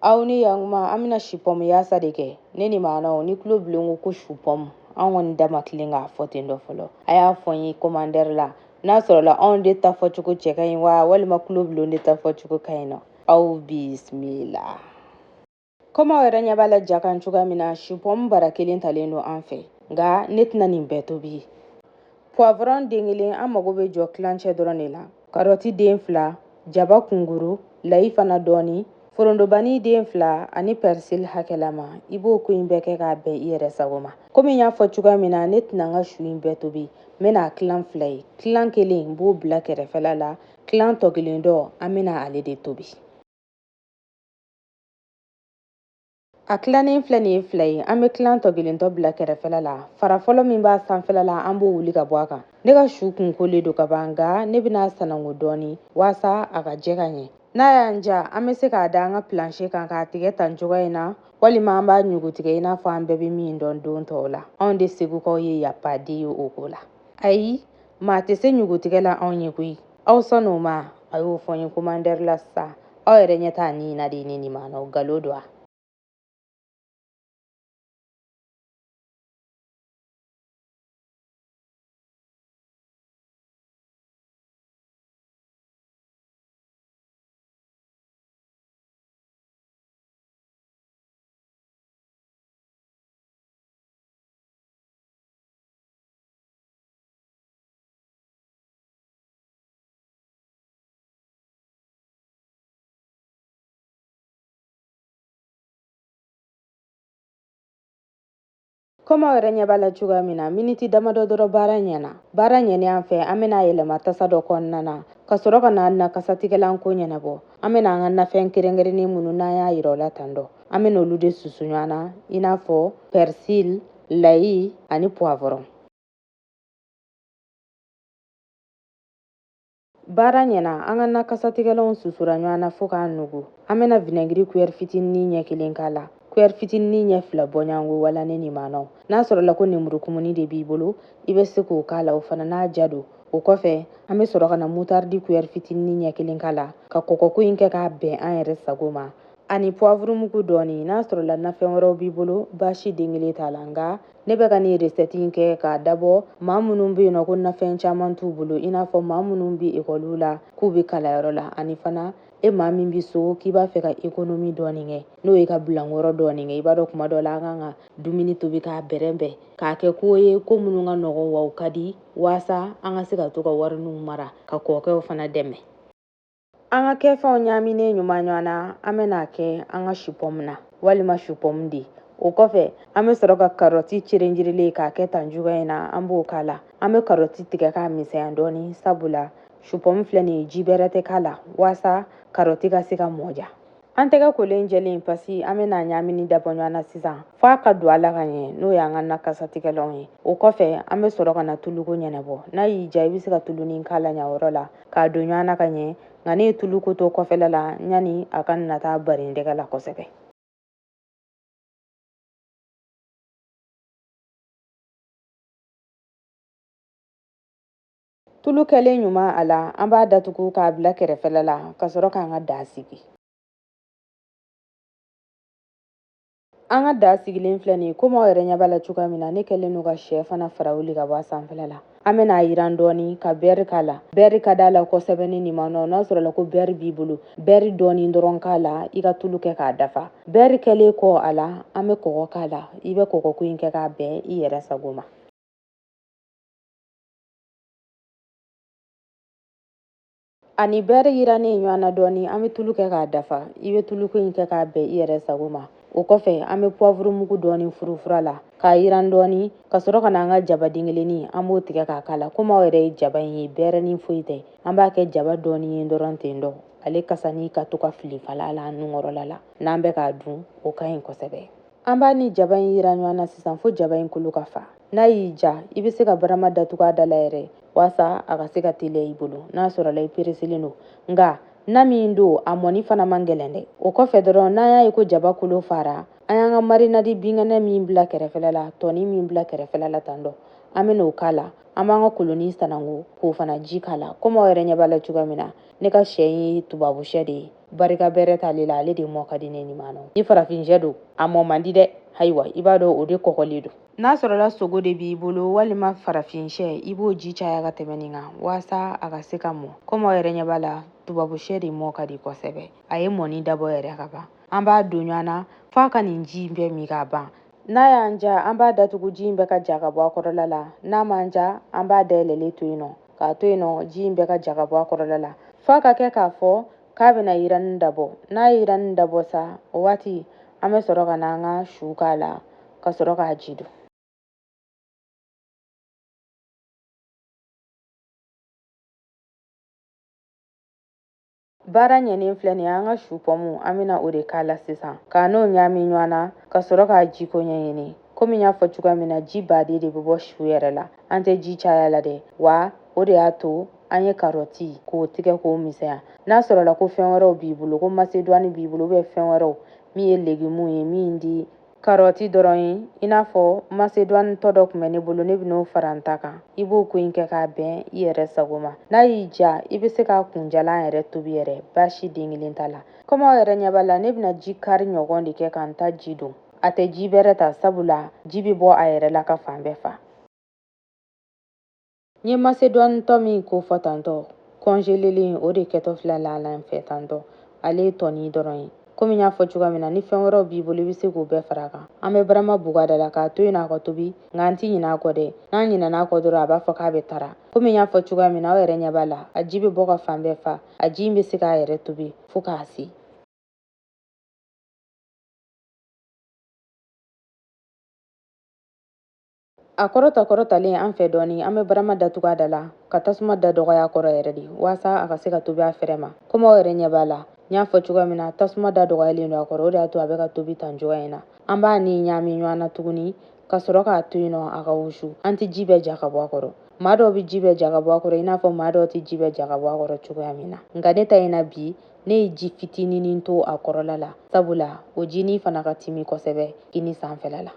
aw ni yakuma an bɛna sipɔmu yaasa de kɛ ne nimanaw ni tulo bilen ko ko supɔmu an kɔni da ma tilen k'a fɔ ten dɔ fɔlɔ a y'a fɔ n ye komandɛri la n'a sɔrɔla anw de ta fɔcogo cɛ ka ɲi wa walima tulo bilen de ta fɔcogo ka ɲi nɔ aw bisimila komi aw yɛrɛ ɲɛ b'a la ja kan cogoya min na supɔmu bara kelen talen don an fɛ nka ne tɛna nin bɛɛ tobi poivron den kelen an mago bɛ jɔ kilancɛ dɔrɔn de la karɔti den fila jaba kunguru layi fana dɔɔni forondobani den fila ani pɛrisili hakɛlama i b'o ko in bɛɛ kɛ k'a bɛn i yɛrɛ sago ma komi n y'a fɔ cogoya min na ne tɛna n ka su in bɛɛ tobi n bɛna a kilan fila ye kilan kelen n b'o bila kɛrɛfɛla la kilan tɔ kelen dɔ an bɛna ale de tobi a kilannen filɛ nin ye fila ye an bɛ kilan tɔ kelen tɔ bila kɛrɛfɛla la fara fɔlɔ min b'a sanfɛla la an b'o wuli ka bɔ a kan ne ka su kun kolen don ka ban nka ne bɛna a sananko dɔɔni waasa a ka jɛ ka ɲɛ n'a y'an ja an bɛ se k'a da an ka pilanse kan k'a tigɛ tan cogoya in na walima an b'a ɲugutigɛ i n'a fɔ an bɛɛ bɛ min dɔn don tɔw la anw de segukaw ye yapaden ye o ko la ayi maa tɛ se ɲugutigɛ la anw ye koyi aw sɔnn'o ma a y'o fɔ n ye komandɛri la sisan aw yɛrɛ ɲɛ t'a nin na de ne nimanaw nkalon don wa komi aw yɛrɛ ɲɛ b'a la cogoya min na miniti damadɔ dɔrɔn baara ɲɛna baara ɲɛnen an fɛ an bɛna a yɛlɛma tasa dɔ kɔnɔna na ka sɔrɔ ka na na kasatigɛlan ko ɲɛnabɔ an bɛna an ka nafɛn kɛrɛnkɛrɛnnen minnu n'an y'a yira aw la tan dɔ an bɛna olu de susu ɲɔgɔn na i n'a fɔ pɛrisil layi ani puwavɔrɔn baara ɲɛna an ka na kasatigɛlanw susura ɲɔgɔn na fo k'a nugu an bɛna vinɛgiri kuyɛri fitinin ɲɛ kelen k'a la kuyɛri fitinin ɲɛ fila bɔɲɔgɔnko wala ne nimanaw n'a sɔrɔla ko nemuru kumuni de b'i bolo i bɛ se k'o k'a la o fana n'a ja don o kɔfɛ an bɛ sɔrɔ ka na mutaridi kuyɛri fitinin ɲɛ kelen k'a la ka kɔkɔko in kɛ k'a bɛn an yɛrɛ sago ma ani puwavurumugu dɔɔni n'a sɔrɔla nafɛn wɛrɛw b'i bolo baasi den kelen t'a la nka ne bɛ ka nin recette in kɛ k'a dabɔ maa minnu bɛ yen nɔ ko nafɛn caman t'u bolo i n'a fɔ maa minnu bɛ ekɔliw la k'u bɛ kalanyɔrɔ la ani fana e maa min bɛ so k'i b'a fɛ ka ekonomi dɔɔni kɛ n'o ye ka bilankɔrɔ dɔɔni kɛ i b'a dɔn kuma dɔ la an kan ka dumuni tobi k'a bɛrɛbɛn k'a kɛ ko ye ko minnu ka nɔgɔn wa u ka di waasa an ka se ka to ka wariniw mara ka kɔɔkɛw fana dɛmɛ an ka kɛfɛnw ɲaaminen ɲuman ɲɔgɔn na an bɛna a kɛ an ka supɔmu na walima supɔmu de o kɔfɛ an bɛ sɔrɔ ka karɔti cerenjirilen k'a kɛ tan cogoya in na an b'o k'a la an bɛ karɔti tigɛ k'a misɛnya dɔɔni sabula supɔmu filɛ nin ye ji bɛrɛ tɛ k'a la waasa karɔti ka se ka mɔ ja an tɛgɛ kolen jɛlen paski an bɛna ɲaamini dabɔ ɲɔgɔn na sisan f'a ka don a la ka ɲɛ n'o y'an ka na kasatigɛlanw ye o kɔfɛ an bɛ sɔrɔ ka na tuluko ɲɛnabɔ n'a y'i ja i bɛ se ka tulunin k'a la yan yɔrɔ la k'a don ɲɔgɔn na ka ɲɛ nka ne ye tuluko to kɔfɛla la yanni a ka na taa bari n tɛgɛ la kosɛbɛ Tulu kɛlen ɲuman a la an b'a datugu k'a bila kɛrɛfɛla la ka sɔrɔ k'an ka da sigi an ka da sigilen filɛ nin ye komi aw yɛrɛ ɲɛ b'a la cogoya min na ne kɛlen don ka shɛ fana fara wuli ka bɔ a sanfɛla la an bɛna a yiran dɔɔni ka bɛri k'a la bɛri ka d'a la kosɛbɛ ne nin ma nɔ n'a sɔrɔla ko bɛri b'i bolo bɛri dɔɔni dɔrɔn k'a la i ka tulu kɛ k'a dafa bɛri kɛlen kɔ a la an bɛ kɔgɔ k'a la i bɛ kɔgɔko in kɛ k'a bɛn i yɛrɛ sago ma a ni bɛri yirannen ɲɔgɔn na dɔɔni an bɛ tulu kɛ k'a dafa i bɛ tuluko in kɛ k'a bɛn i yɛrɛ sago ma o kɔfɛ an bɛ puwavuru mugu dɔɔni furufur'a la k'a yiran dɔɔni ka sɔrɔ ka na an ka jaba den kelennin an b'o tigɛ k'a k'a la komi aw yɛrɛ ye jaba in ye bɛrɛnin foyi tɛ an b'a kɛ jaba dɔɔni ye dɔrɔn ten dɔ ale kasanin ka to ka filifala la an nunkɔrɔla la n'an bɛ k'a dun o ka ɲi kosɛbɛ An b'a ni jaba in yiran ɲɔgɔn na sisan fo jaba in kolo ka fa. N'a y'i ja, i bɛ se ka barama datugu a da la yɛrɛ waasa a ka se ka teliya i bolo n'a sɔrɔla i pereselen don. Nka na min don, a mɔni fana man gɛlɛn dɛ. O kɔfɛ dɔrɔn, n'an y'a ye ko jaba kolo fara, an y'an ka marinadi binkɛnɛ min bila kɛrɛfɛla la, tɔnin min bila kɛrɛfɛla la tan dɔ, an bɛna o k'a la. An b'an ka kolonnin sananko k'o fana ji k'a la, komi aw yɛrɛ ɲɛ b'a la cogoya min na, ne ka shɛ in ye tubabu shɛ de ye. barika bɛrɛ t'ale la ale de mɔ ka di ne ni maanɔ ni farafinshɛ don a mɔ man di dɛ ayiwa i b'a dɔn o de kɔgɔlen don n'a sɔrɔla sogo de b'i bolo walima farafinshɛ i b'o ji caya ka tɛmɛ nin kan waasa a ka se ka mɔ komi aw yɛrɛ ɲɛ b'a la tubabushɛ de mɔ ka di kosɛbɛ a ye mɔni dabɔ yɛrɛ ka ban an b'a don ɲɔgɔn na f'a ka nin ji in bɛɛ min k'a ban n'a y'an ja an b'a datugu ji in bɛɛ ka ja ka bɔ a kɔrɔla la n'a m'an ja an b'a dayɛlɛlen to yen nɔ k'a to yen nɔ ji in bɛɛ ka ja ka bɔ a kɔrɔla la f'a ka kɛ k'a fɔ k'a bɛna yiranni dabɔ n'a ye yiranni dabɔ sa o waati an bɛ sɔrɔ ka na an ka su k'a la ka sɔrɔ k'a ji don Baara ɲɛnen filɛ nin ye an ka su pɔmu an bɛna o de k'a la sisan k'a n'o ɲaami ɲɔgɔn na ka sɔrɔ k'a jiko ɲɛɲini komi n y'a fɔ cogoya min na ji baden de bɛ bɔ su yɛrɛ la an tɛ ji caya la dɛ wa o de y'a to an ye karɔti k'o tigɛ k'o misɛnya n'a sɔrɔla ko fɛn wɛrɛw b'i bolo ko masedwani b'i bolo ubiyɛn fɛn wɛrɛw min ye legimuw ye min tɛ Karɔti dɔrɔn ye i n'a fɔ masedwani tɔ dɔ tun bɛ ne bolo ne bɛn'o fara n ta kan i b'o ko in kɛ k'a bɛn i yɛrɛ sago ma n'a y'i diya i bɛ se k'a kunjalan yɛrɛ tobi yɛrɛ baasi den kelen t'a la komi aw yɛrɛ ɲɛ b'a la ne bɛna ji kari ɲɔgɔn de kɛ ka n ta ji don a tɛ ji bɛrɛ ta sabula ji bɛ bɔ a yɛrɛ la ka fan bɛɛ fa N ye masedwani tɔ min ko fɔ tantɔ, kɔnjelelen o de kɛtɔ filɛ a la an fɛ tantɔ, ale ye tɔni dɔrɔn ye. Komi n y'a fɔ cogoya min na, ni fɛn wɛrɛw b'i bolo i bɛ se k'o bɛɛ fara a kan. An bɛ barama bugu a da la k'a to yen a ka tobi, nka an tɛ ɲinɛ a kɔ dɛ. N'an ɲinɛna a kɔ dɔrɔn, a b'a fɔ k'a bɛ tara. Komi n y'a fɔ cogoya min na, aw yɛrɛ ɲɛ b'a la, a ji bɛ bɔ ka fan bɛɛ fa. A ji in bɛ se k'a yɛrɛ tobi fo k'a se. a kɔrɔta kɔrɔtalen an fɛ dɔɔni an bɛ barama datugu a da la ka tasuma da dɔgɔya a kɔrɔ yɛrɛ de waasa a ka se ka tobi a fɛrɛ ma komi aw yɛrɛ ɲɛ b'a la n y'a fɔ cogoya min na tasuma da dɔgɔyalen don a kɔrɔ o de y'a to a bɛ ka tobi tan cogoya in na an b'a ni ɲaami ɲɔgɔn na tuguni ka sɔrɔ k'a to yen nɔ a ka wusu an tɛ ji bɛɛ ja ka bɔ a kɔrɔ maa dɔw bɛ ji bɛɛ ja ka bɔ a kɔrɔ i n'a fɔ maa dɔw tɛ ji bɛɛ ja ka bɔ a kɔrɔ cogoya min na nka ne ta in na bi ne ye ji fitininin to a kɔrɔla la sabula o jinin fana ka timi kosɛbɛ kini sanfɛla la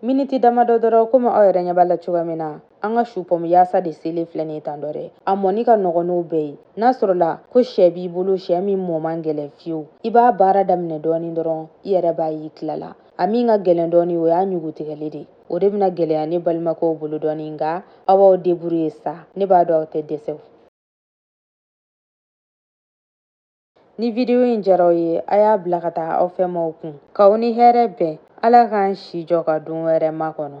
miniti damadɔ dɔrɔn komi aw yɛrɛ ɲɛ b'a la cogoya min na an ka su pɔmu yaasa de selen filɛ nin ye tan dɔ dɛ a mɔni ka nɔgɔn n'o bɛɛ ye n'a sɔrɔla ko sɛ b'i bolo sɛ min mɔ man gɛlɛn fiyewu i b'a baara daminɛ dɔɔni dɔrɔn i yɛrɛ b'a y'i tilala a min ka gɛlɛn dɔɔni o y'a ɲugutigɛli de o de bɛna gɛlɛya ne balimakɛw bolo dɔɔni nka aw b'aw deburuye sa ne b'a dɔn aw tɛ dɛsɛ Ni video in diyara aw ye, a y'a bila ka taa aw fɛmaaw kun. K'aw ni hɛrɛ bɛn, Ala k'an si jɔ ka don wɛrɛ makɔnɔ.